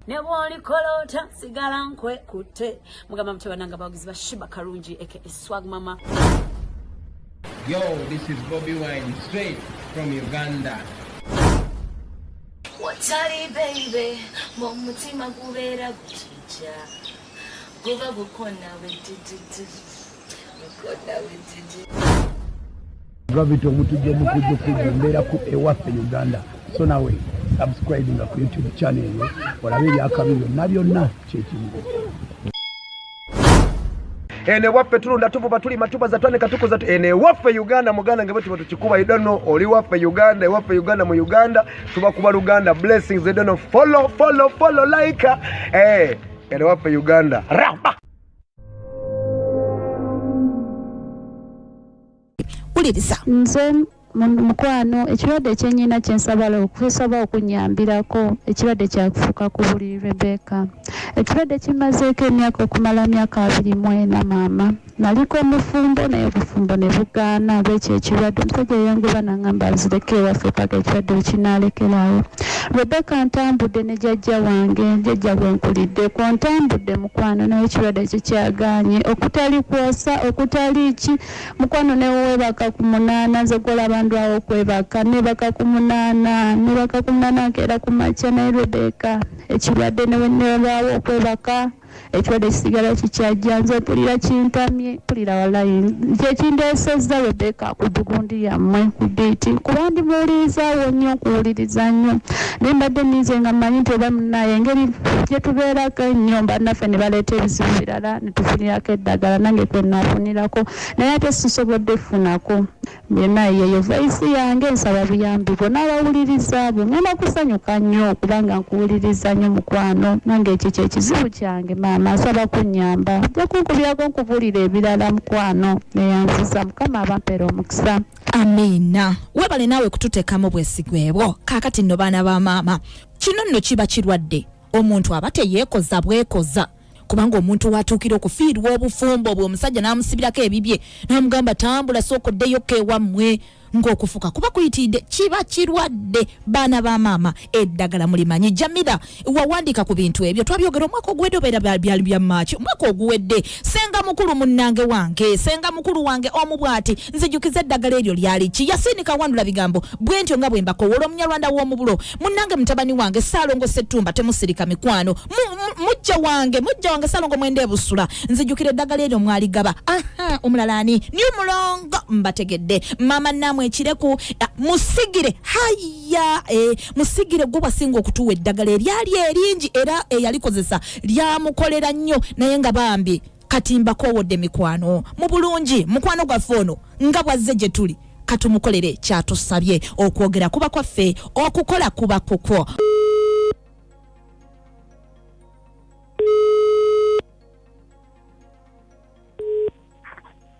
ne bw'olikoloota sigala nkwekutte mugamba mutya bananga abawagizi ba shiba kalungi eke eswag mama yo this is bobi wine straight from uganda watali baby mu mutima gubeera guti Ja, guba gukona wejijiji, gukona wejiji. Gravity omutujja omukujja okujja embeera ku ewaffe Uganda so nawe subscribe nga ku YouTube channel eyo olabe ebyakabi byonna byonna kyekimu ene waffe tulunda tuvuba tulima tubaza twanika tukuza ene waffe Uganda muganda ngebwe tuba tukikuba idano oli waffe Uganda ewaffe Uganda mu Uganda tuba kuba luganda blessings they don't know follow follow follow like eh hey, waffe uganda ramba uliriza nze mukwano ekirwadde kyenyina kyensabala okusaba okunyambirako ekirwadde kyakufuka ku buli rebeka ekirwadde kimazeeko emyaka okumala myaka abiri mwena maama Naliko mufumbo naye obufumbo ne bugaana olw'ekyo ekirwadde. Omusajja yayanguwa n'angamba nzireko ewaffe paka ekirwadde lwe kinaalekerawo. Rebecca ntambudde ne jajja wange, jajja gwe nkuliddeko. Ntambudde mukwano naye ekirwadde kye kyagaanye. Okutali kwosa, okutali ki, mukwano ne weebaka ku munaana, nze gw'olaba ndwawo okwebaka. Nneebaka ku munaana, nneebaka ku munaana nkeera ku makya naye Rebecca ekirwadde ne bwe nnalwawo okwebaka. Ekirwadde kisigala kikyajja nze mpulira kintamye mpulira walayi kyekindeesezza Rebecca ku gundi yammwe ku biiti kuba ndi muwulirizaawo nnyo nkuwuliriza nnyo naye mbadde ninze nga mmanyi nti oba munaye engeri gye tubeerako ennyo mbannaffe ne baleeta ebizibu birala ne tufunirako eddagala nange kwe naafunirako naye ate sisobodde kufunako Byonna yeyo voice yange nsaba buyambi bwo nabawuliriza bo ngenda kusanyuka nnyo kubanga nkuwuliriza nnyo mukwano nange ekyo kyekizibu kyange maama nsaba kunyamba ja kunkubyako nkubulira ebirala mukwano neyanziza mukama abampera omukisa amiina webale naawe kututekamu bwesigwebwo kakati nno baana ba maama kino nno kiba kirwadde omuntu aba teyeekoza bwekoza kubanga omuntu watuukira okufiirwa obufumbo obwo omusajja n'amusibirako ebibye n'amugamba tambula sooka oddeyo ko ewammwe ng'okufuka kuba kuyitiidde kiba kirwadde baana ba maama eddagala mulimanyi jamira wawandiika ku bintu ebyo twabyogera omwaka oguwedde obeera byali bya maaki omwaka oguwedde senga mukulu munnange wange senga mukulu wange omu bw'ati nzijukiza eddagala eryo lyali ki yasiini kawandula bigambo bwentyo nga bwe mbakowola omunyarwanda w'omubulo munange mutabani wange salongo setumba temusirika mikwano mujja wange mujja wange salongo mwende ebusula nzijukira eddagala eryo mwaligaba aha omulala ani ni mulongo mbategedde mama namwe ekireku musigire haya e, musigire gwe bwasinga okutuwa eddagala eryali eringi era eyalikozesa lyamukolera nnyo naye nga bambi kati mbakowodde mikwano mu bulungi mukwano gwaffe ono nga bwazze gye tuli katumukolere kyatusabye okwogera kuba kwaffe okukola kuba kukwo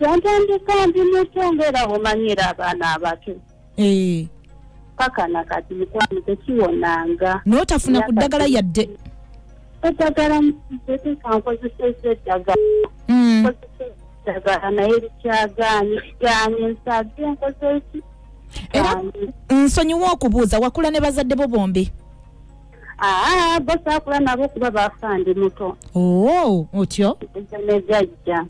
yantandika ndi muto ngaera omanyira abaana abato eh. paka nakati mukwano tekiwonanga notafuna ku ddagala yadde eddagala mutetekankozeseza eddagala hmm. eddagala naye likyagaanyi kigaanyi nsabye enkozeki era nsonyiwa okubuuza wakula ne bazadde bo bombi aa ah, bo saakula nabo kuba baafandi muto oo oh, otyo eza nejajja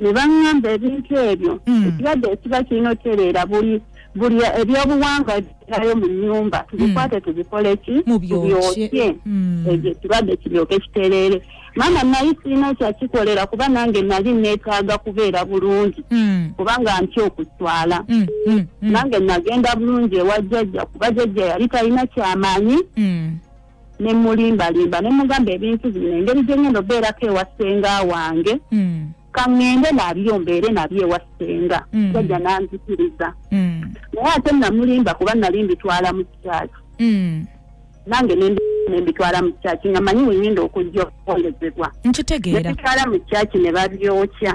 ne baŋŋamba ebintu ebyo hmm. ekirwadde ekiba kirina otereera buli buli ebyobuwangwa ebirayo mu nyumba hmm. tubikwate tubikole ki tubyokye hmm. ekyo ekirwadde kiryoke kitereere maama naye sirina kyakikolera kuba nange nali neetaaga kubeera bulungi kubanga ntya okutwala nange nagenda bulungi ewa jjajja kuba jjajja yali talina kyamaanyi ne mulimbalimba ne mugamba ebintu bino engeri gye ngenda obeerako ewa ssenga wange hmm. kaŋŋende nabyo mbeere nabyo ewa ssenga hmm. jajja nanzikiriza hmm. naye ate namulimba kuba nali mbitwala mu kyaki nange nembitwala mu kyaki nga manyi wengenda okujja okuwolezebwa nkitegeera nebitwala mu kyaki ne babyokya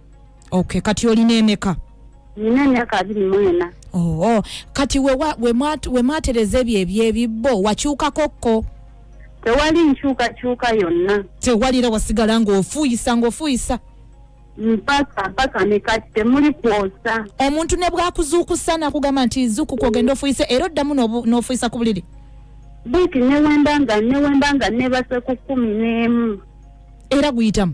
okay kati olina emeka nina emyaka abiri mu ena oh, oh. kati wemwatereza ebyo ebyebibbo wakyukako kko tewali nkyukakyuka yonna tewalira wasigala ng'ofuuyisa ng'ofuuyisa mpaka mpaka nekati temuli kwosa omuntu ne bwakuzuukusa nakugamba nti zukuku ogenda ofuuyise era oddamu n'ofuuyisa ku buliri buti newembanga newembanga nebase ku kumi n'emu era guyitamu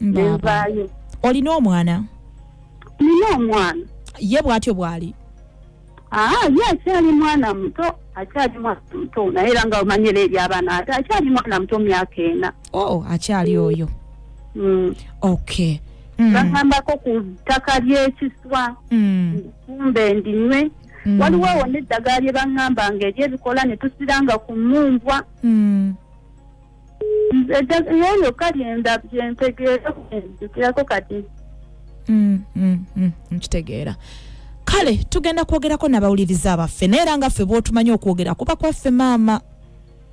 nenvaayo olina omwana nina omwana ye bwatyo bwali aa ye akyali mwana muto akyali mwana muto naye era nga omanyira eri abaana ate akyali mwana muto myaka ena oh akyali oyo Mm. okay Mm, bagambako ku ttaka ly'ekiswa mm, kumbe ndinywe mm, waliwo awo n'eddagala lye baŋŋamba nga eryebikola ne tusiranga ku mmumbwa mm. nze just naye yokka lyenda byentegeera kujukirako kati mm, mm, mm, nkitegeera kale tugenda kwogerako nabawuliriza abaffe naye era nga ffe bwotumanyi okwogera kuba kwaffe maama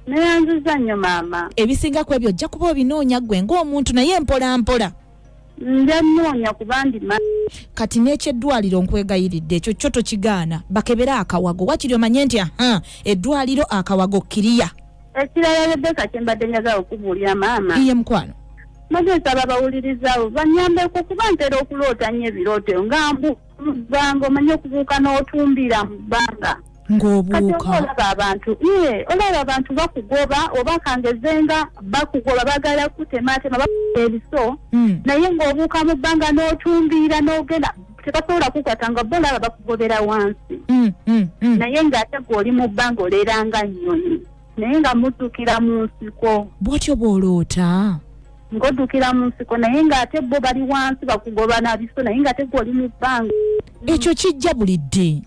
neyanziza nnyo maama ebisinga ku ebyo ojja kuba obinoonya gwe ngaomuntu naye mpola mpola nja nnoonya kuba ndi ma kati n'ekyeddwaliro nkwegayiridde ekyo kyo tokigaana bakebere akawago wakiri omanye nti aha eddwaliro akawago kiriya ekirala rebeka kye mbadde njaga okubuulira maama iye mukwano maze nsaba bawulirizawo banyambeko kuba ntera okuloota nnyo ebirooto nga mbu mu bbanga omanye okubuuka n'otumbira mu bbanga ng'obuuka olaba abantu ye olaba abantu bakugoba oba kangeze nga bakugoba bagala kutematema bakuta ebiso hmm. naye ng'obuuka mu bbanga n'otumbiira n'ogenda tebasobola kukwata nga bo olaba bakugobera wansi hmm, hmm, naye ng'ate gwe oli mu bbanga oleranga nnyonyi naye nga muddukira mu nsiko bwotyo bwoloota ngoddukira mu nsiko naye ng'ate bo bali wansi bakugoba na biso naye ng'ate gwe oli mu bbanga ekyo kijja buli dde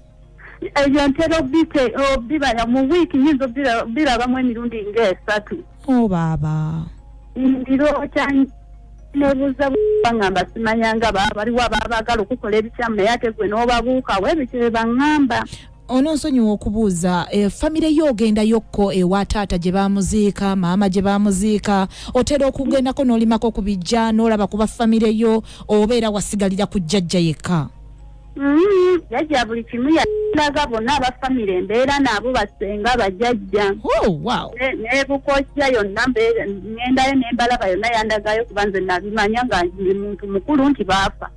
ebyo ntera obite obibala mu wiiki nyinza obirabamu emirundi ng'esatu o oh, baaba ndiroota nebuuza bangamba simanyanga baba baliwo ababaagala okukola ebikyamu naye ate gwe n'obabuukawo ebyo kye bangamba ononsonyiwa okubuuza e, famire yo ogendayokko ewa taata gye bamuziika maama gye bamuziika otera okugendako n'olimako ku bijja n'olaba kuba famire yo oba era wasigalira ku jjajja yekka mm-hmm. jajja buli kimu yalaga bonna abafamire embeera naabo basenga bajajja oh, nebukojja yonna ngendayo nembalaba yonna yandagayo kuba nze nabimanya nga ndi muntu mukulu nti baafa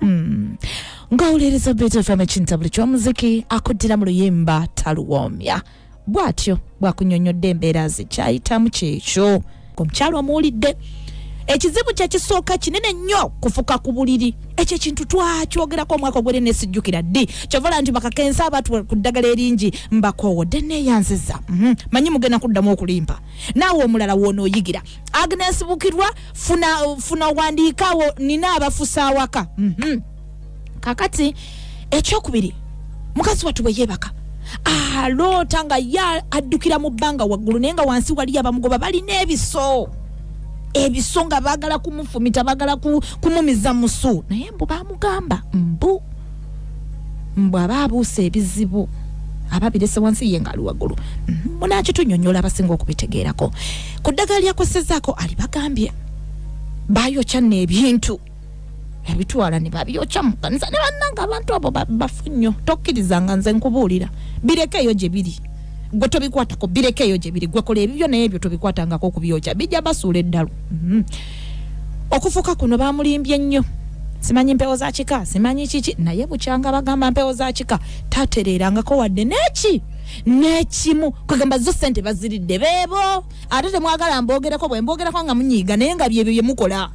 Mm. ng'awuliriza beeto fm ekintabuli ky'omuziki akuddira mu luyimba taluwoomya bw'atyo bw'akunyonnyodde embeera ze kyayitamu kyekyo omukyalo omuwulidde ekizibu kyekisooka kinene nnyo kufuka ku buliri ekyo ekintu twakyogerako omwaka ogwere nesijjukira ddi kyovala nti bakakensa abatu ku ddagala eringi mbakoowo dde neeyanziza mhm. manyi mugenda kuddamu okulimba naawe omulala woonaoyigira agnes bukirwa funa, funa wandiikawo nina abafusa awaka mm -hmm. kakati ekyokubiri mukazi wattu bwe yeebaka aloota ah, nga ye addukira mu bbanga waggulu naye nga wansi waliyo abamugoba balina ebiso ebiso nga baagala kumufumita baagala kumumiza musu naye mbu bamugamba mbu mbu aba abuusa ebizibu aba birese wansi ye ngaali waggulu mhm, munakitunyonyola abasinga okubitegeerako ku ddagala lyakosezaako alibagambye bayokya n'ebintu ebitwala ne babyokya mu kanisa ne bannanga abantu abo bafu nnyo tokkirizanga nze nkubuulira bireka eyo gye biri gwe tobikwatako bireka eyo gye biri gwe kola ebibyo naye ebyo tobikwatangako okubyokya bijja basuula eddalu mhm. okufuka kuno bamulimbye nnyo simanyi mpewo za kika simanyi kiki naye bukyanga bagamba mpewo za kika tatereerangako wadde neki nekimu kwegamba zo sente baziridde bebo ate temwagala mbogereko bwe mbogerako nga munyiiga naye nga byebyo byemukola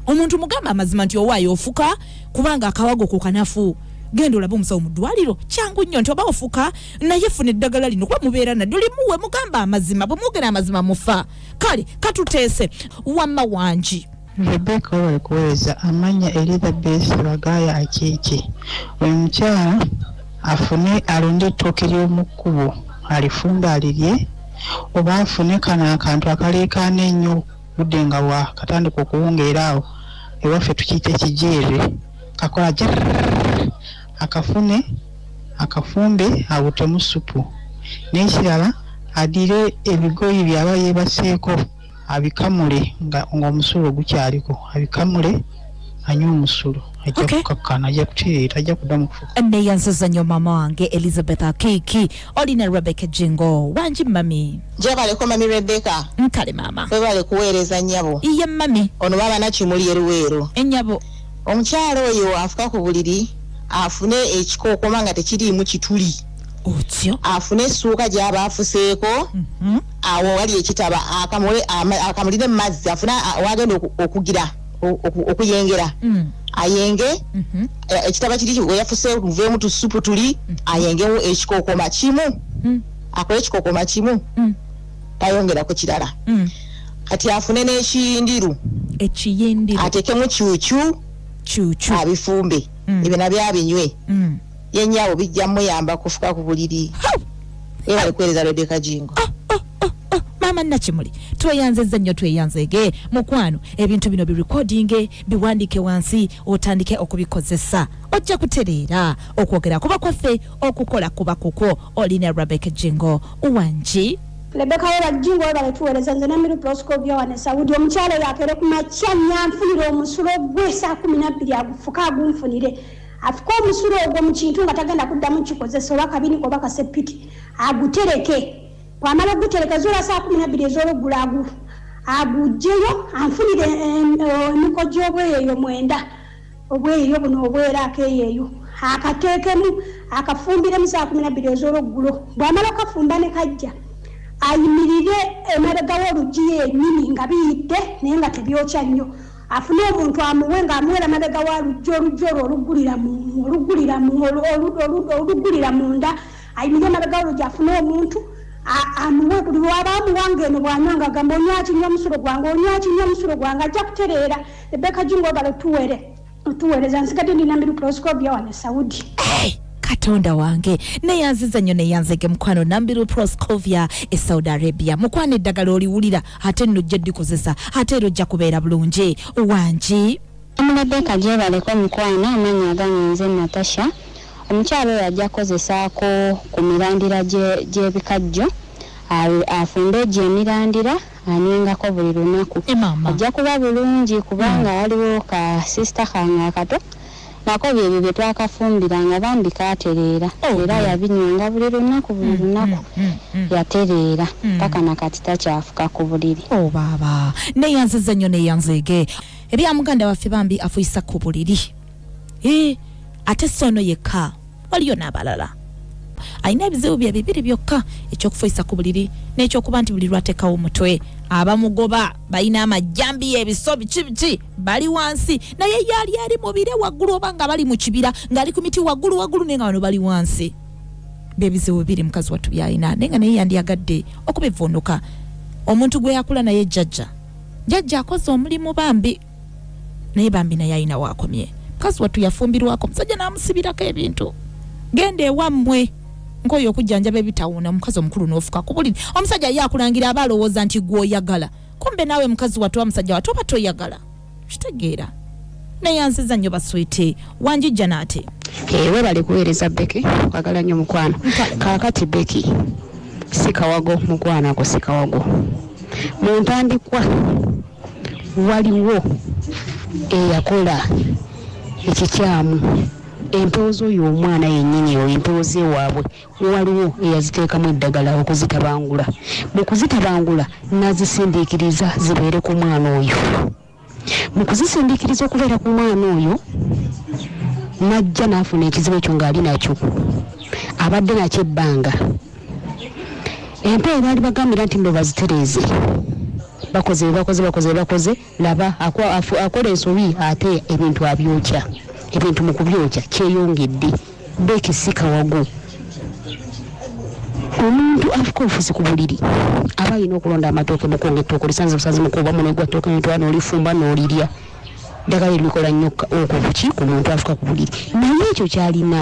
omuntu mugamba amazima nti owaayo ofuka kubanga akawago ku kanafu genda olabe omusawo mu ddwaliro kyangu nnyo nti oba ofuka naye funa eddagala lino kuba mubeera nadyo limuwe mugamba amazima bwe mwogera amazima mufa kale katuteese wamma wangi rebeka webale kuweereza amanya elizabeth bagaya akiiki oyo mukyala afune alonde ettooke ly'omukkubo alifumbe alirye oba afune kano akantu akaleekaana ennyo budde nga wakatandika okuwungeera awo ewaffe tukiyita ekijeere kakola jrr akafune akafumbe abutemu ssupu n'ekirala addire ebigoye by'aba yeebaseeko abikamule ng'omusulo gukyaliko abikamule anywa omusulo ajja okay. kukakkana ajja kutereera ajja kuddamu kufuka neyanziza nnyo maama wange elizabeth akiiki oli ne rebecca jingo wangi mami jebaleko mami rebecca nkale maama webale kuweereza nnyabo iye mami ono baba nakimuli eruweero ennyabo omukyala oyo afuka ku buliri afune ekikookoma nga tekiriimu kituli otyo afune essuuka gyaba afuseeko mhm. awo wali ekitaba akamulire mu mazzi afune wagenda okugira okuyengera mm. ayenge mhm. e, ekitaba kiri weyafuse muveemu tusupu tuli mm. ayengewo ekikookoma kimu mm. akole ekikookoma kimu tayongera ku kirala mm. kati afune n'ekiyindiru ekiyindiru atekemu kyukyu kyukyu abifumbe mm. ebyo nabyo abinywe mm. yenyawo bijja muyamba kufuka ku buliri era alikuweereza rebeka jingo ah, ah, ah, ah. maama nakimuli tweyanzezza nnyo tweyanzege mukwano ebintu bino birekodinge biwandiike wansi otandike okubikozesa ojja kutereera okwogera kuba kwaffe okukola kuba kukwo olina rabek jingo wangi Rebecca weba jingo weba letuweleza nze namiru proscovia wane saudi omukyalo yakere ku makya nyanfunire omusulo gwe saa kumi nabbiri agufuka agunfunire afuka omusulo ogwo mu kintu nga tagenda kuddamu kikozesa oba kabiniko oba kasepiti agutereke bwamala ogutereka zola saa kumi nabbiri ez'oluggula agu agugyeyo anfunire emiko gy'obweyo eyo mwenda Obweeyo buno obweera akeeyeeyo akateekemu akafumbiremu saa kumi na bbiri ez'olweggulo bw'amala okukafumba ne kajja ayimirire emabega w'oluggi yennyini nga biyidde naye nga tebyokya nnyo afune omuntu amuwe ng'amuwera mabega wa luggi oluggi olwo oluggulira munda ayimirire emabega w'oluggi afune omuntu amuwe buli waba amuwa ng'eno bw'anywa nga gamba onywa kinywa omusulo gwange onywa kinywa omusulo gwange ajja kutereera Rebecca Jung wabala otuwere otuwereza nsigadde ndi namiru proscovia wano esaudi hey! katonda wange neyanziza nnyo neyanzege mukwano nambiru proscovia e saudi arabia mukwano eddagala oliwulira ate nno ojja dikozesa ate era ojja kubeera bulungi wangi omulebeka gyebaleko mukwano amanya agange nze natasha omukyalo oyo ajja kukozesaako ku mirandira gyebikajjo afumbe egyo emirandira anywengako buli lunaku ajja kuba bulungi kubanga hmm. waliwo ka sisita kange akato nako byebyo bye twakafumbiranga bambi kaatereera oh, era hmm. yabinywanga buli lunaku buli hmm, lunaku yatereera paka nakati takyafuka ku buliri oh, baaba neyanziza nnyo neyanzeege ebya muganda waffe bambi afuyisa ku buliri eh, ate si ono yekka waliyo n'abalala alina ebizibu bye bibiri byokka ekyokufuisa ku buliri n'ekyokuba nti buli lwatekawo omutwe abamugoba balina amajjambi y'ebiso biki biki bali wansi naye yaali ali mubire waggulu oba nga bali mu kibira ng'ali ku miti waggulu waggulu naye nga bano bali wansi byebizibu bibiri mukazi wattu byalina naye nga naye yandyagadde okubivvuunuka omuntu gwe yakula naye jjajja jjajja akoze omulimu bambi naye bambi naye alina waakomye mukazi wattu yafumbirwako omusajja n'amusibirako ebintu genda ewammwe nkoyo okujjanjaba ebitawuuna omukazi omukulu n'ofuka ku buli omusajja ye akulangira aba alowooza nti gw'oyagala kumbe naawe mukazi wattu wa musajja wattu oba toyagala kitegeera neyanziza nnyo baswiti wanjijja naate eh, webale kuweereza beki kwagala nnyo mukwano kaakati beki sikawago mukwano ako sikawago muntandikwa Waliwo eyakola ekikyamu empewo z'oyo omwana yennyini oyo empewo z'ewaabwe waliwo eyaziteekamu eddagala okuzitabangula mu kuzitabangula n'azisindiikiriza zibeere ku mwana oyo mu kuzisindiikiriza okubeera ku mwana oyo n'ajja n'afuna ekizibu ekyo ng'ali nakyo abadde nakyo ebbanga empeeyi baali bagambira nti mbo bazitereeze bakoze bebakoze bakoze bebakoze laba akola ensobi ate ebintu abyokya ebintu mu kubyokya kyeyongedde bekisika wagu omuntu afuka obufuzi ku buliri aba alina okulonda amatooke mukunga ettooke olisanze busanze mukuba muno egwa ttooke nitwa noolifumba noolirya ddagala erikola nnyo okubuki ku muntu afuka ku buliri naye ekyo kyalina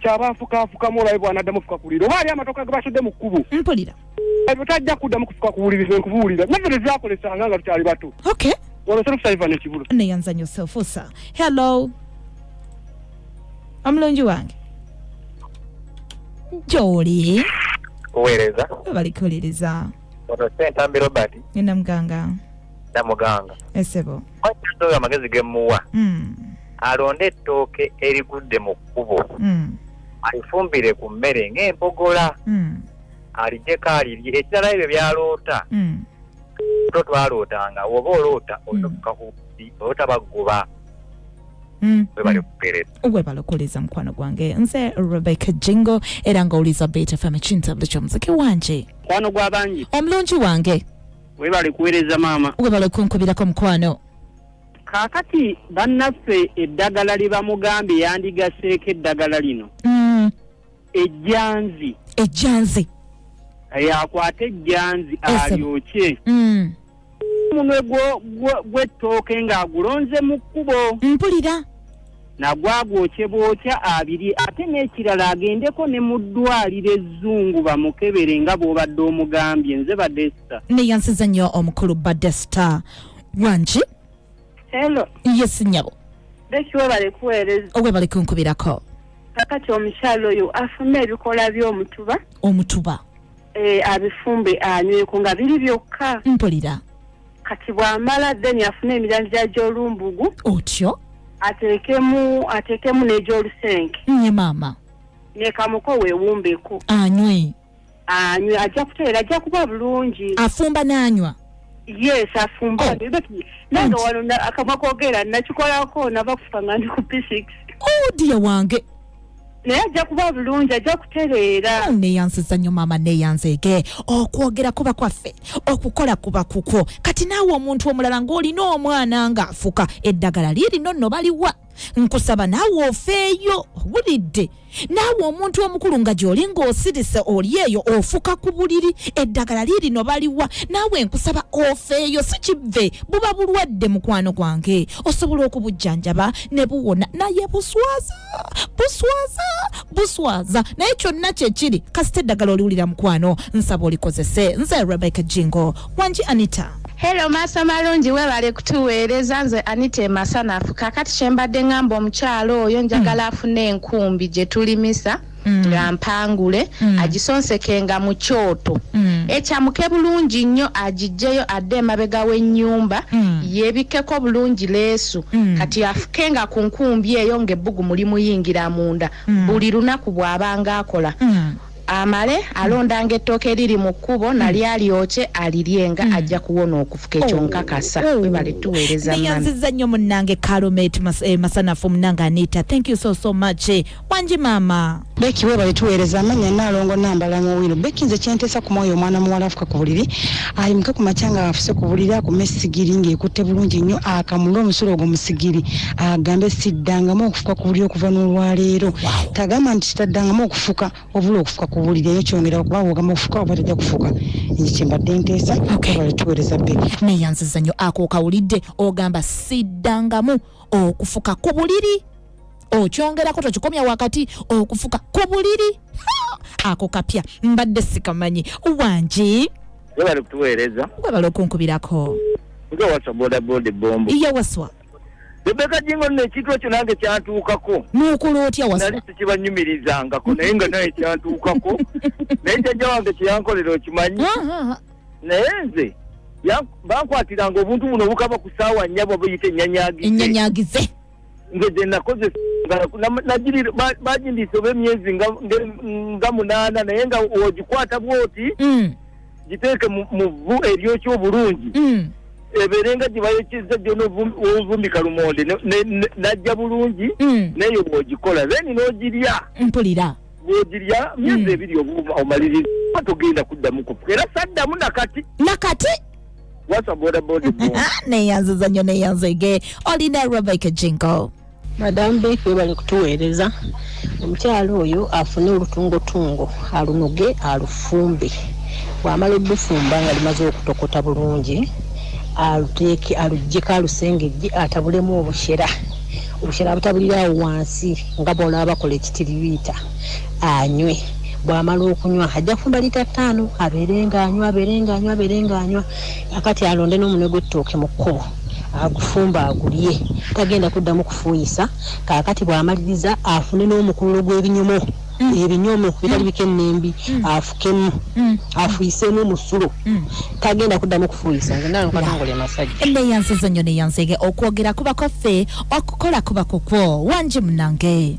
kyaba afukaafukamu olabe bwanaddamu ofuka kuwulira oba ali amatoka ge basudde mu kkubo mpulira ebyo tajja kuddamu kufuka kuwuliriza nkubuwulira naffe tezyakolesanga nga tukyali bato okay olosolukusaivan ekibulo neyanzanyo sefusa hello omulungi wange gyoli kuweereza balikuwuliriza ono sentambi robert nina muganga na muganga esebo Omuntu oyo amagezi ge muwa mm. alonde ettooke erigudde mu kkubo mm. alifumbire ku mmere ng'empogola mm. alijeko alirye ekirala ebyo byaloota mm. to twalootanga oba oloota olina mm. okukakubi oloota baguba Mm. webalokoleza mm. mukwano gwange nze rebecca jingo era nga oliza beta fm ekintabuli kyomuziki wanje mukwano gwabangi omulungi wange webale kuweereza maama webale okunkubirako mukwano kaakati bannaffe eddagala lye bamugambye yandigaseeko eddagala lino mm. ejjanzi ejjanzi yakwata ejjanzi alyokye mm. omunwe gw'ettooke ng'agulonze mu kkubo mpulira nagwagwokye bwokya abiri ate n'ekirala agendeko ne mu ddwaliro ezzungu bamukebere nga bw'obadde omugambye nze badesta neyansiza nnyo omukulu badesta wangi helo yes nyabo bekiwebale kuweereza owebale kunkubirako kakati omukyalo oyo afune ebikola by'omutuba omutuba e, abifumbe anyweko nga biri byokka mpulira kati bwamala then afune emirandira gy'olumbugu otyo ateekemu ateekemu n'egy'olusenke nye maama nekamuko weewumbeko anywe anywe ajja kuteera ajja kuba bulungi afumba n'anywa yes afumba Oh. But nange Anti- wano na- akamwa kogeera nakikolako nava kufa nga ndi ku p6 oh dia wange naye ajja kuba bulungi ajja kutereera oh, neyansiza nnyo maama neyanzeege okwogera kuba kwaffe okukola kuba kukwo kati naawe omuntu omulala ng'olina omwana ng'afuka eddagala liirino nno baliwa nkusaba naawe ofeeyo owulidde naawe omuntu omukulu nga gy'oli ng'osirise oli eyo ofuka ku buliri eddagala liirino baliwa naawe nkusaba ofeeyo si kivve buba bulwadde mukwano gwange osobola okubujjanjaba ne buwona naye buswaza buswaza buswaza naye kyonna kyekiri kasita eddagala oliwulira mukwano nsaba olikozese nze rebecca jingo wangi anita Hello maasa malungi webale kutuweereza nze Anita Emasanafu kakati kyembadde ngamba omukyalo oyo njagala mm. afune enkumbi gye tulimisa mm. nga mpangule mm. agisonsekenga mu kyoto mm. ekyamuke bulungi nnyo agijjeyo adde emabega w'ennyumba mm. yebikkeko bulungi leesu mm. kati afukenga ku nkumbi eyo ng'ebbugu muli muyingira munda mm. buli lunaku bw'abanga akola mm. amale alondanga ettooke eriri mu kkubo hmm. nali alyokye alirye nga hmm. ajja kuwona okufuka ekyo oh. nkakasa oh. webale tuweereza nayanziza nnyo munnange kalomet eh, masanafu munnange anita thank you so so much eh. wangi maama Becky webale tuweereza amanya naalongo nambala mu wino Becky nze kyenteesa ku mwoyo omwana muwala afuka ku buliri ayimuke ku makya nga afuse ku buliri akume esigiri ng'ekutte bulungi nnyo akamule omusulo ogwo musigiri agambe siddangamu okufuka ku buliri okuva n'olwaleero tagamba nti kitaddangamu okufuka obula okufuka ku buliri eyo kyongera okuba wogamba okufuka oba tajja kufuka nze kyembadde nteesa webale tuweereza Becky neyanziza nnyo ako okawulidde ogamba siddangamu okufuka ku buliri okyongerako tokikomya wakati okufuka ku buliri ako kapya mbadde sikamanyi wangi webale kutuweereza webale okunkubirako nga wasa bodaboda ebombo iye waswa rebeka jingo nno ekintu ekyo nange kyantuukako nuukula otya wasa nali sikibanyumirizangako naye nga naye kyantuukako naye jajja wange kyeyankolera okimanyi naye nze bankwatiranga obuntu buno obukaba ku saawa nyabo buyita enyanyagize enyanyagize nze gye nakozesa bagindiisa oba emyezi nga munaana naye nga ogikwata bwoti mm. giteeke mu vvu eryokya obulungi mm. ebeere nga gyebayokeza gyona ovumbika lumonde najja bulungi mm. naye bwogikola then nogirya mpulira bwogirya myezi ebiri obuuma omaliriza togenda kuddamu kufuka era saddamu nakati nakati wasa boda boda bo neyanziza nnyo neyanzege olina rebecca jingo madamu beek webale kutuweereza omukyala oyo afune olutungotungo alunoge alufumbe bwamala olufumba nga limaze okutokota bulungi aluteeke alugyeko alusengejje atabulemu obushera obushera abutabuliraawo wansi nga bwolaba bakola ekitiribiita anywe bwamala okunywa ajja kufumba lita ttaano abeere ng'anywa abeere ng'anywa abeere ng'anywa akati alonde n'omunwe gw'ettooke mu kkubo agufumba agulye tagenda kuddamu kufuuyisa kaakati bw'amaliriza afune n'omukululo gw'ebinyomo mm. ebinyomo bitali mm. bikennembi mm. afukemu afuyiseemu omusulo tagenda kuddamu kufuuyisa nze nalo nkatongole masajja enne yansizo nnyo neyanzege okwogera kuba kwaffe okukola kuba kukwo wangi munange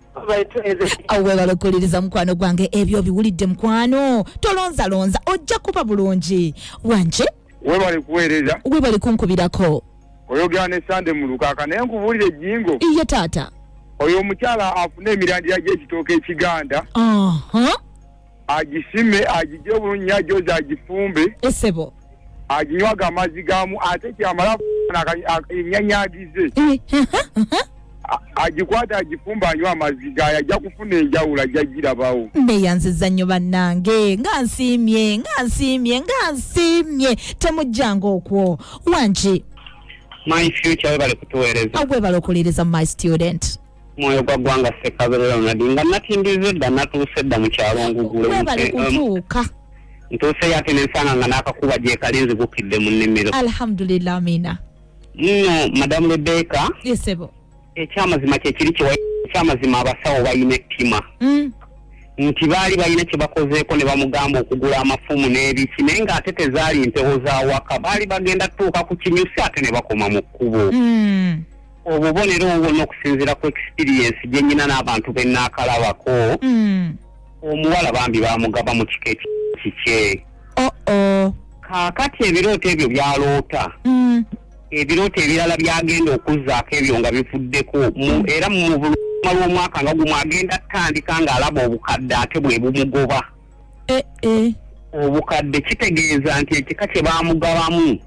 awo webale okuwuliriza mukwano gwange ebyo obiwulidde mukwano tolonzalonza ojja kuba bulungi wanje webale kuweereza webale kunkubirako oyogera ne sande mulukaka naye nkubuulira ejjingo iye taata oyo omukyala afuna emirandira gy'ekitooka ekiganda uh -huh. agisime agigye bulungi agyoza agifumbe esebo aginywaga amazzi gamu ate kyamala enyanyagize agikwata agifumba anywa amazzi gayo ajja kufuna enjawulo ajja girabawo neyanziza nnyo bannange nga nsiimye nga nsiimye nga nsiimye temujjanga okwo wangi my future webale kutuweereza agwebale okuwuliriza my student mwoyo gwa ggwanga ssekabere ronald nga natindiza edda natuuse edda mu kyalo ngugule webale kutuuka ntuuse yate nensanga nga n'akakuba gyekali nzigukidde mu nnimiro alhamdulillah amina nno madamu rebeka yesebo ekyamazima kyekiri kyewa ekyamazima abasawo balina ettima mm. nti baali balina kye bakozeeko ne bamugamba okugula amafumu n'ebiki naye ng'ate tezaali mpewo za waka baali bagenda tutuuka ku kinyusi ate ne bakoma mu kkubo mm. obubonero obubona okusinziira ku experience gye nyina n'abantu be naakalabako mm. omuwala bambi bamugaba mu kika ekikye kaakati ebirooto ebyo byaloota mm. ebirooto ebirala byagenda okuzzaako ebyo nga bivuddeko mm. era mu buluma lw'omwaka nga gumu agenda tandika ng'alaba obukadde ate bwe bumugoba eh, eh. obukadde kitegeeza nti ekika kye bamugabamu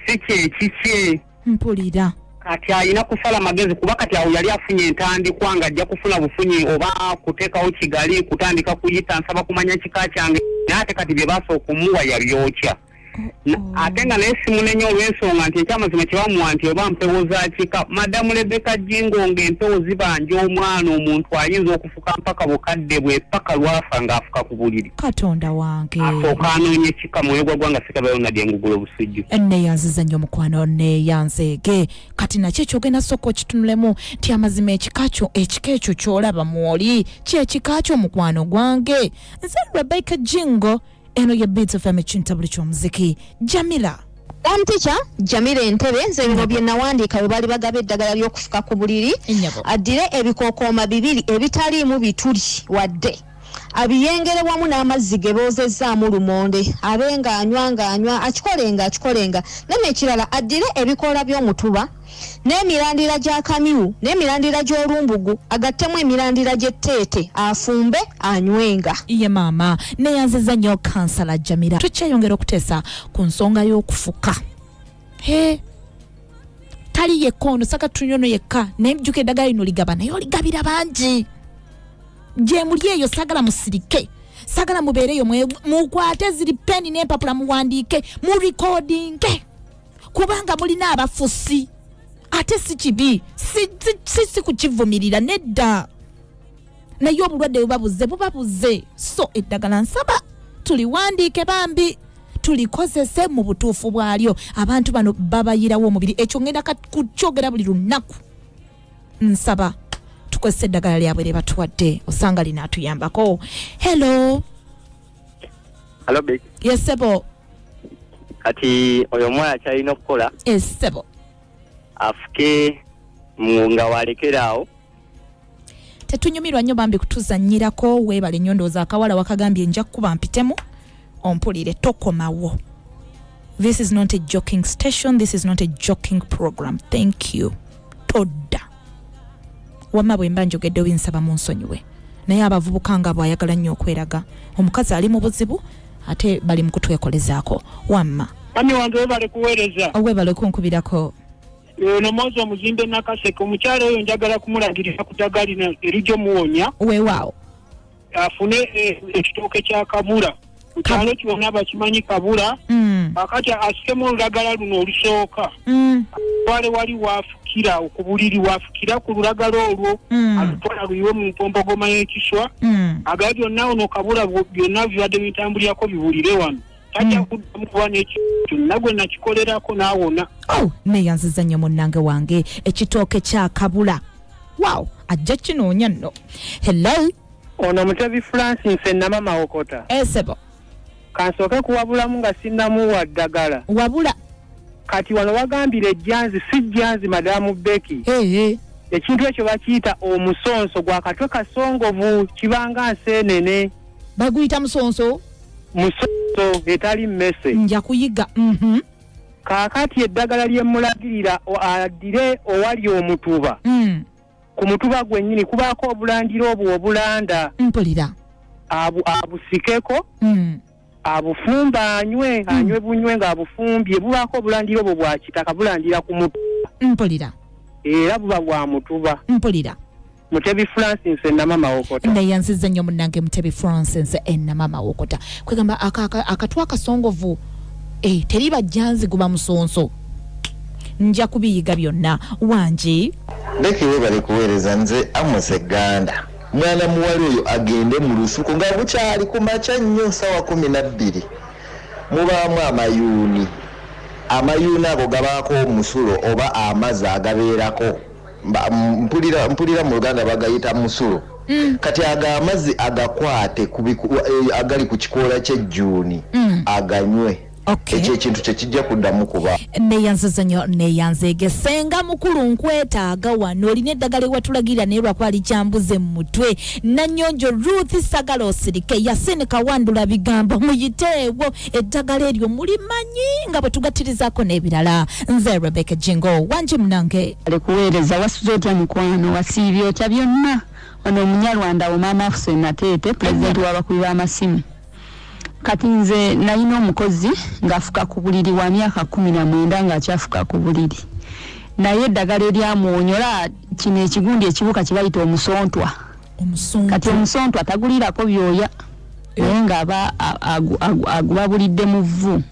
si kyekikye mpulira kati alina kusala magezi kuba kati awo yali afunye entandikwa nga ajja kufuna bufunyi oba kuteekawo kigali kutandika kuyita nsaba kumanya kika kyange naye ate kati bye baasa okumuwa yabyokya ate nga naye simunenya olw'ensonga nti ekyamazima kyebamuwa nti oba mpewo za kika madamu lebeka jingo nga empewo zibanja omwana omuntu ayinza okufu afuka mpaka bukadde bwe paka lwafa nga afuka ku buliri katonda wange asooka anoonye kika mwoyo gwa gwanga sekaba yona dye ngugula obusujju neyanziza nnyo mukwano neyanzeege kati nakyo ekyogenda sooka okitunulemu nti amazima ekika kyo ekika ekyo kyolaba mwoli kyekika kyo mukwano gwange nze rebecca jingo eno ye beats fm ekintabuli ky'omuziki jamila Form teacher Jamila Entebe nze bino bye nawandiika bwe baali bagaba eddagala ly'okufuka ku buliri addire ebikookooma bibiri ebitaliimu bituli wadde abiyengere wamu n'amazzi ge boozezzaamu lumonde abe ng'anywa ng'anywa akikolenga akikolenga neno ekirala addire ebikoola by'omutuba n'emirandira gya kamyu n'emirandira gy'olumbugu agattemu emirandira gy'etteete afumbe anywenga. Ye maama neyanziza nnyo kansala Jamira tukyeyongera okuteesa ku nsonga y'okufuka he tali yekka ono saka tunyono yekka naye jjuka eddagala lino ligaba naye oligabira bangi gyemuli eyo sagala musirike sagala mubeereyo mukwate ziri peni n'empapula muwandiike mu recordinge kubanga mulina abafusi ate si kibi si kukivumirira nedda naye obulwadde bwebabuze bubabuze so eddagala nsaba tuliwandiike bambi tulikozese mu butuufu bwalyo abantu bano babayirawo omubiri ekyo ngenda kukyogera buli lunaku nsaba tukozesa eddagala lyabwe lye batuwadde osanga linaatuyambako hello Hello, babe. Yes, sebo. Kati oyo omwana akyalina okukola. Yes, sebo. Afuke nga walekeraawo. Tetunyumirwa nnyo bambi kutuzannyirako weebale nnyo ndowooza akawala wakagambye nja kukuba mpitemu ompulire tokomawo. This is not a joking station. This is not a joking program. Thank you. Todda. wamma bwe mba njogedde obinsaba mu nsonyiwe naye abavubuka nga bwayagala nnyo okweraga omukazi ali mu buzibu ate bali mu kutwekolezaako wamma mami wange webale kuweereza owebale okunkubirako ono mwozi omuzimbe nakaseke omukyalo oyo njagala kumulagirira ku daga lino erijja omuwonya wewaawo afune eh, ekitooke kya kabula ku kyalo kyona bakimanyi kabula Mm. akati asikemu olulagala luno olusooka Mm. twale wali waafukira okubuliri waafukira ku lulagala olwo Mm. alutwala luyiwe mu mpompogoma y'ekiswa Mm. agala byonna ono kabula bu- byonna bibadde bitambulirako biwulire wano tajja kuddamu kuba nekintu nagwe nakikolerako naawona oh, neyanziza nnyo munnange wange ekitooke kyakabula waw ajja kinoonya nno hello ono mutebi francis enama mawokota esebo eh, kansooke kuwabulamu nga sinnamuwa ddagala wabula kati wano wagambira ejjanzi si jjanzi madamu beki hey, hey. ekintu ekyo bakiyita omusonso gwakatwe kasongovu kibanga nseenene baguyita musonso musoso etali mmese nja kuyiga mhm. kaakati eddagala lye mmulagirira addire owali omutuba mm. ku mutuba gwennyini kubaako obulandira obwo obulanda mpulira abusikeko mm. abufumba anywe mm. anywe bunywe ng'abufumbye bubaako obulandira obwo bwa kitaka bulandira ku mutuba mpulira era buba bwa mutuba mpulira mutebi francis enama mawokota neyanziza nnyo munange mutebi francis enama mawokota kwegamba akatu akasongovu eh, teri bajjanzi guba musonso nja kubiyiga byonna wangi beki webale kuweereza nze amose ganda mwana muwala oyo agende mu lusuku nga bukyali ku makya nnyo sawa kumi nabbiri mubaamu amayuuni amayuuni ago gabaako omusulo oba amazi agabeerako mpulira mpulira mu luganda bagayita musulu mm. kati ago amazzi agakwate eh, agali ku kikoola ky'ejjuuni mm. aganywe okay. ekyo ekintu kyekijja kuddamu kuba neyanziza nyo neyanzeege senga mukulu nkwetaaga wano olina eddagala ewatulagirira naye lwakuba likyambuze mu mutwe nanyonjo ruth sagala osirike yasini kawandula bigambo muyiteewo eddagala eryo mulimanyi nga bwe tugattirizaako n'ebirala nze rebeka jingo wangi munange alikuweereza wasuze otya mukwano wasiibye otya byonna ono omunyarwanda wo maama afuse nateete pulezidenti w'abakubi b'amasimu kati nze nalina omukozi ng'afuka ku buliri wa myaka kumi na mwenda ng'akyafuka ku buliri naye eddagala eryamwonyola kino ekigundi ekibuka kye bayita omusontwa kati omusontu atagulirako byoya eh. naye nga aba agubabulidde mu vvu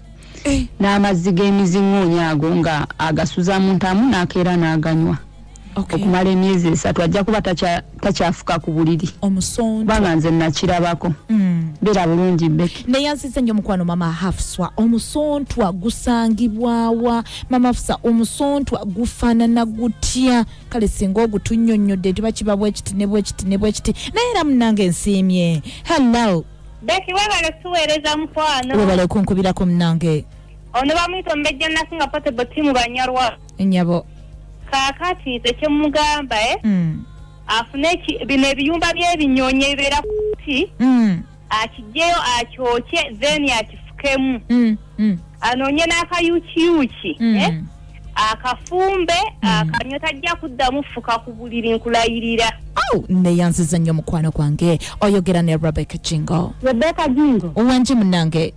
eh. n'amazzi g'emiziŋoonya ago nga agasuza mu ntamu n'akeera n'aganywa okumala emyezi esatu ajja kuba takyafuka ku buliri kubanga nze nakirabako hmm. beera bulungi beki naye nsize nyo mukwano mama hafswa omusontwa gusangibwawa mama hafsa omusontwa gufaanana gutya kale singa ogutunyonyodde nti bakiba bwekiti ne bwekiti ne bwekiti naye era munange nsiimye hallo beki webale tuweereza mukwano webale okunkubirako munange ono bamuyita omubejja nasinga potable timu banyarwa nyabo kakati nze kyemugamba e eh? mm. afune bino ebiyumba byebinyonyi ebibeera kuti mm. akijjeyo akyokye then akifukemu mm, mm. anoonye n'akayukiyuki mm. eh? akafumbe mm. akanywa tajja kuddamu fuka ku buliri nkulayirira oh, neyanziza nnyo mukwano gwange oyogera ne rebecca jingo rebecca jingo owangi munange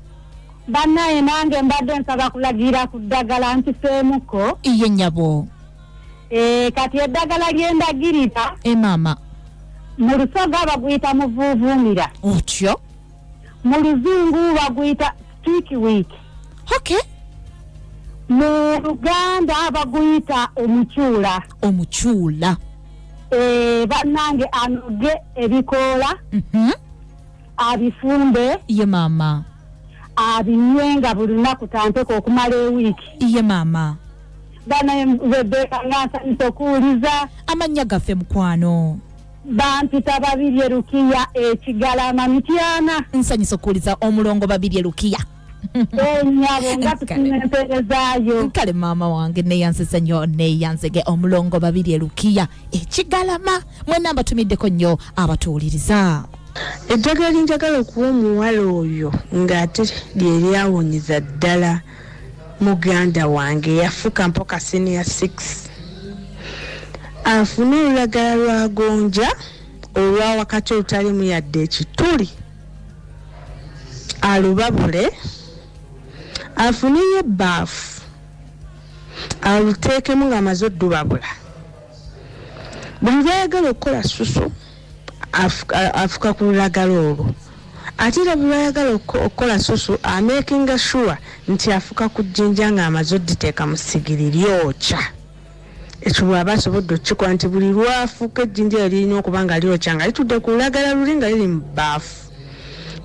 bannaye nange mbadde nsaba kulagira ku ddagala nkiseemuko iye nyabo Eh, kati eddagala lyendagirira emaama eh, mu lusoga baguyita muvuuvuumira otyo mu luzungu baguyita stick week okay mu luganda baguyita omucuula omucuula eh, bannange anoge ebikoola mhm. abifumbe ye maama abinywe nga buli lunaku tanteka okumala ewiiki ye maama banaye rebeka nga nsanyusa okuwuliza amannya gaffe mukwano bampita babirye lukiya ekigalama mityana nsanyusa okuwuliza omulongo babirye lukiya enyabo nga tufunye empeerezaayo kale maama wange neyansese nnyo neyansege omulongo babiri elukiya ekigalama mwena mbatumiddeko nnyo abatuwuliriza eddagala linjagala okuwa omuwala oyo ng'ate lyeryawonyeza ddala Muganda wange yafuka mpoka senior 6 afune olulagala lwa gonja olwa wakati olutalimu yadde ekituli alubabule afuneyo ebbaafu aluteekemu ng'amaze oddubabula buli lwayagala okukola susu afuka ku lulagala olwo ate era bweyayagala okukola susu amakinga sure nti afuka ku jjinja nga amaze oditeeka mu sigiri lyokya ekyo bwaba asobodde okukikola nti buli lwafuuka ejjinja yo lirina okuba nga lyokya nga litudde ku lulagala luli nga liri mu baafu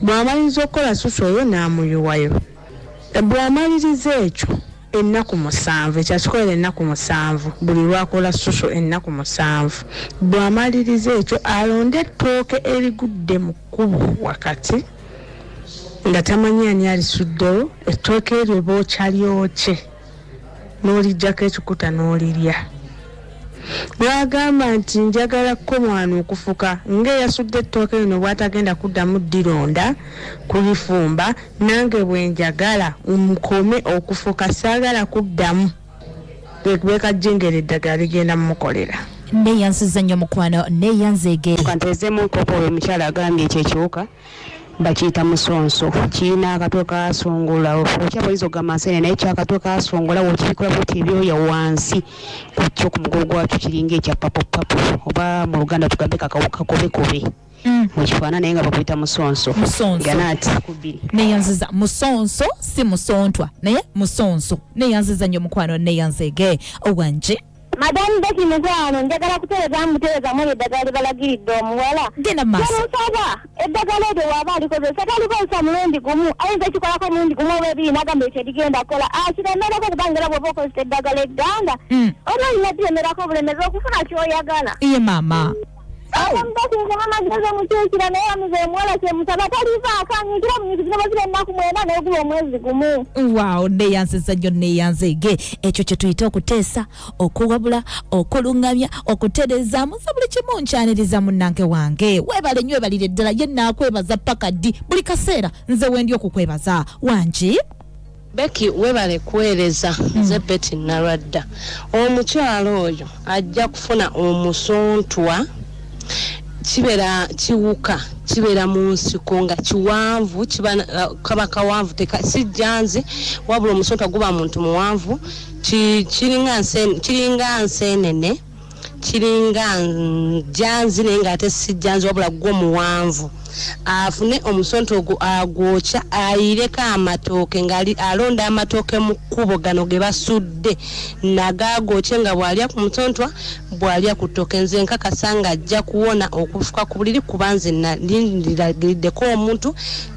bwamaliza okukola susu oyo n'amuyiwayo Bw'amaliriza ekyo ennaku musanvu, ekyo akikolera ennaku musanvu, buli lw'akola susu ennaku musanvu, bw'amaliriza ekyo alonde ettooke erigudde mu kkubo wakati nga tamanyi ani alisuddewo, ettooke eryo bookya lyokye. n'oliggyako ekikuta n'olirya. Lw'agamba nti njagala kkomwano okufuka ng'eyasudde ettooke lino bw'atagenda kuddamu ddironda kulifumba nange bwe njagala nkome okufuka saagala kuddamu bwekajjengera eddagala ligenda mumukolera. Neeyanziza nnyo mukwano neeyanzeege. Kanteezemu enkoko oyo omukyala agambye ekyo ekiwuka. bakiyita musonso kirina akatwe kasongola okya boyinza okugamba nsene naye kyakatwe kasongola wokibikula bwoti ebyoya wansi kukyo ku mugogo gwakyo kiringa ekya papopapo oba mu luganda tugambe kakakobekobe mukifaana naye nga bakuyita musonso ganaati kubiri neyanziza musonso si musontwa naye musonso neyanziza nyo mukwano neyanzege owanje Madam Betty mukwano njagala kutereza mutereza mwe eddagala libalagiridde omuwala genda maaso musaba eddagala eryo waaba alikozesa talikozesa mulundi gumu ayinza ekikolako omulundi gumu oba ebiri nagamba ekyo edigenda kola akiremerako ah, kubanga era bwoba okozesa eddagala egganda mm. oba olina diremerako obulemezi okufuna kyoyagala iye maama amagezi omukyukira naye bamize omuwala kyemusaba talivaako anyikira munyikizino bazira ennaku mwenda naye guba omwezi gumu waaw neyanziza nnyo neyanzeege ekyo kye tuyita okuteesa okuwabula okuluŋŋamya okutereezaamu nze buli kimu nkyaniriza munnange wange weebale nnyo webalire ddala ye naakwebaza paka ddi buli kaseera nze wendi okukwebaza wangi Becky webale kuweereza hmm. nze mm. Betty Nalwadda omukyala oyo ajja kufuna omusontwa kibeera kiwuka kibeera mu nsiko nga kiwanvu uh, kaba kawanvu sijjanzi wabula omusontwa guba muntu muwanvu kiringa nseenene kiringa njanzi naye nga ate si janzi wabula gwo muwanvu afune omusonto ogwo agwokya ayireko amatooke ngaali alonda amatooke mu kkubo gano ge basudde nagaagokye nga bw'alya ku mutontwa bw'alya ku ttooke nze nkakasa ng'ajja kuwona okufuka ku buliri kuba nze nalindiragiddeko omuntu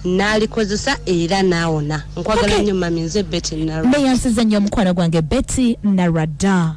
n'alikozesa era naawona nkwagala nnyo mami nze betty nalwa neyansiza nnyo omukwano gwange betty nalwa dda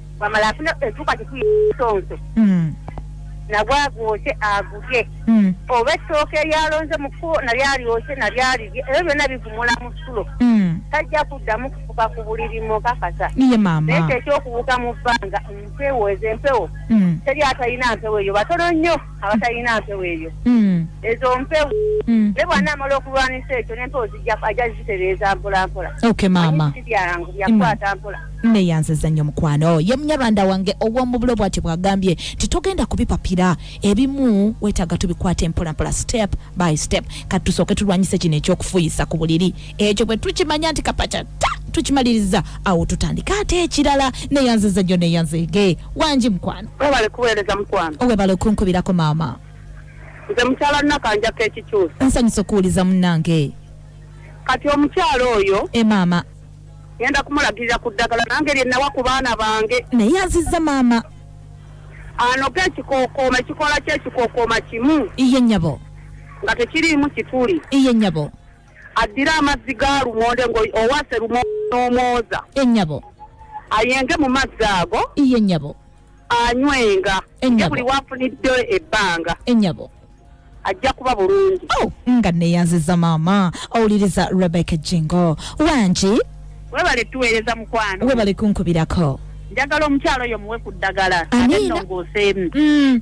wamala afuna etuka kitumusonso mm. nagwe agwokye agulye mm. oba ettooka eryalonze mu kkubo nalyo alyokye nalyo alirye ebyo byonna bivumula mu sulo mm. tajja kuddamu kufuka ku buliri mukakasa naye ekyo ekyokuwuka mu bbanga mpewo ezo empewo teri atalina mpewo eyo batono nnyo abatalina mpewo eyo hmm. ezo mpewo hmm. ne bwana amala okulwanisa ekyo nempewo ajja zitereeza mpolampola byangu byakwata hmm. mpola neyanziza nnyo mukwano ye munyarwanda wange ow'omubulo bwati bwagambye nti togenda kubipapira ebimu wetaaga tubikwata empolampola step by step kati tusooke tulwanyise kino eky'okufuyisa ku buliri ekyo bwe tukimanya nti kapaca ta tukimaliriza awo tutandika ate ekirala neyanziza gyo neyanzege wangi mukwano webale kuweereza mukwano webale okunkubirako maama nze mukyala nakanjako ekikyusa nsanyusa okuwuliza munange kati omukyala oyo e maama ngenda kumulagirira ku ddagala nange lyenawa ku baana bange naye yanziza maama anoga ekikokooma ekikola kyo ekikokooma kimu iye nyabo nga tekiriimu kituli iye nyabo addire amazzi ga lumonde ng'owaase lumonde n'omwoza ennyabo ayenge mu mazzi ago iye nnyabo anywenga ye buli wafunidde ebbanga ennyabo ajja kuba bulungi oh, nga neyanziza maama owuliriza rebecca jingo wangi webale tuweereza mukwano webale kunkubirako njagala omukyalo oyo muwe ku ddagala ate nongooseemu mm.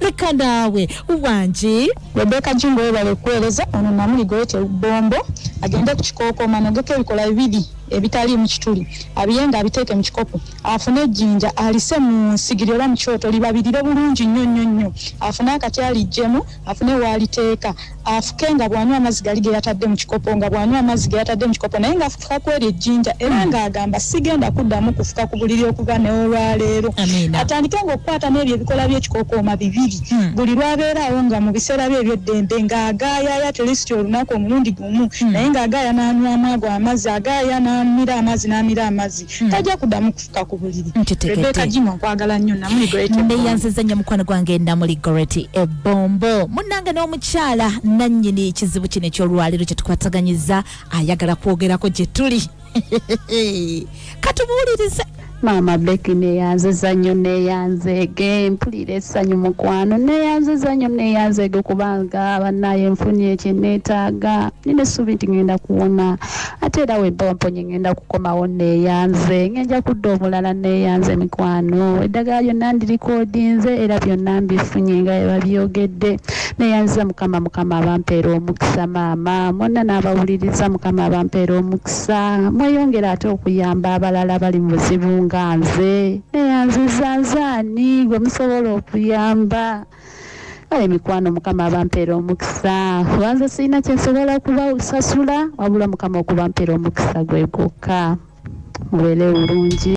leka naawe wangi rebeka jingo webale okuweereza ono namuli gweyete bombo agende ku kikookoma nogeko ebikola bibiri ebitali mu kituli abiye nga abiteeke mu kikopo afune ejjinja alise mu nsigiri oba mu kyoto libabirire bulungi nnyo nnyo nnyo afune akati alijjemu afune waaliteeka afuke nga bw'anywa amazzi gali ge yatadde mu kikopo nga bw'anywa amazzi ge yatadde mu kikopo naye ng'afuka ku eryo ejjinja era hmm. ng'agamba sigenda kuddamu kufuka ku buliri okuva n'olwaleero atandike ng'okukwata n'ebyo ebikola by'ekikookooma bibiri hmm. buli lw'abeeraawo nga mu biseera bye eby'eddembe ng'agaayaya tulisiti olunaku omulundi gumu hmm. naye ng'agaaya n'anywamu ago amazzi agaaya n'amira amazzi n'amira amazzi tajja kuddamu kufuka okutuka ku buliri rebeka jima okwagala nnyo namuli goreti neyanziza nnyo mukwano gwange namuli goreti ebombo munange n'omukyala nannyini ekizibu kino ekyolwaliro kyetukwataganyiza ayagala kwogerako gye tuli katubuulirize maama beki neyanziza nnyo neyanzeege mpulira essanyu mukwano neyanziza nnyo neyanzeege kubanga banaye nfunye kyeneetaaga nina essuubi nti ngenda kuwona ate era wemba wamponye ngenda kukomawo neeyanze ngenja kudda omulala neeyanze mikwano eddagala lyonna ndirikoodinze era byonna mbifunye nga ebabyogedde neeyanziza mukama mukama abampeera omukisa maama mwonna n'abawuliriza mukama abampeera omukisa mweyongere ate okuyamba abalala bali mu buzibu nga nze neeyanziza nzaani gwe musobola okuyamba kale mikwano mukama abampera omukisa kubanza sirina kyensobola kubasasula wabula mukama okubampera omukisa gwe gwokka mubeere bulungi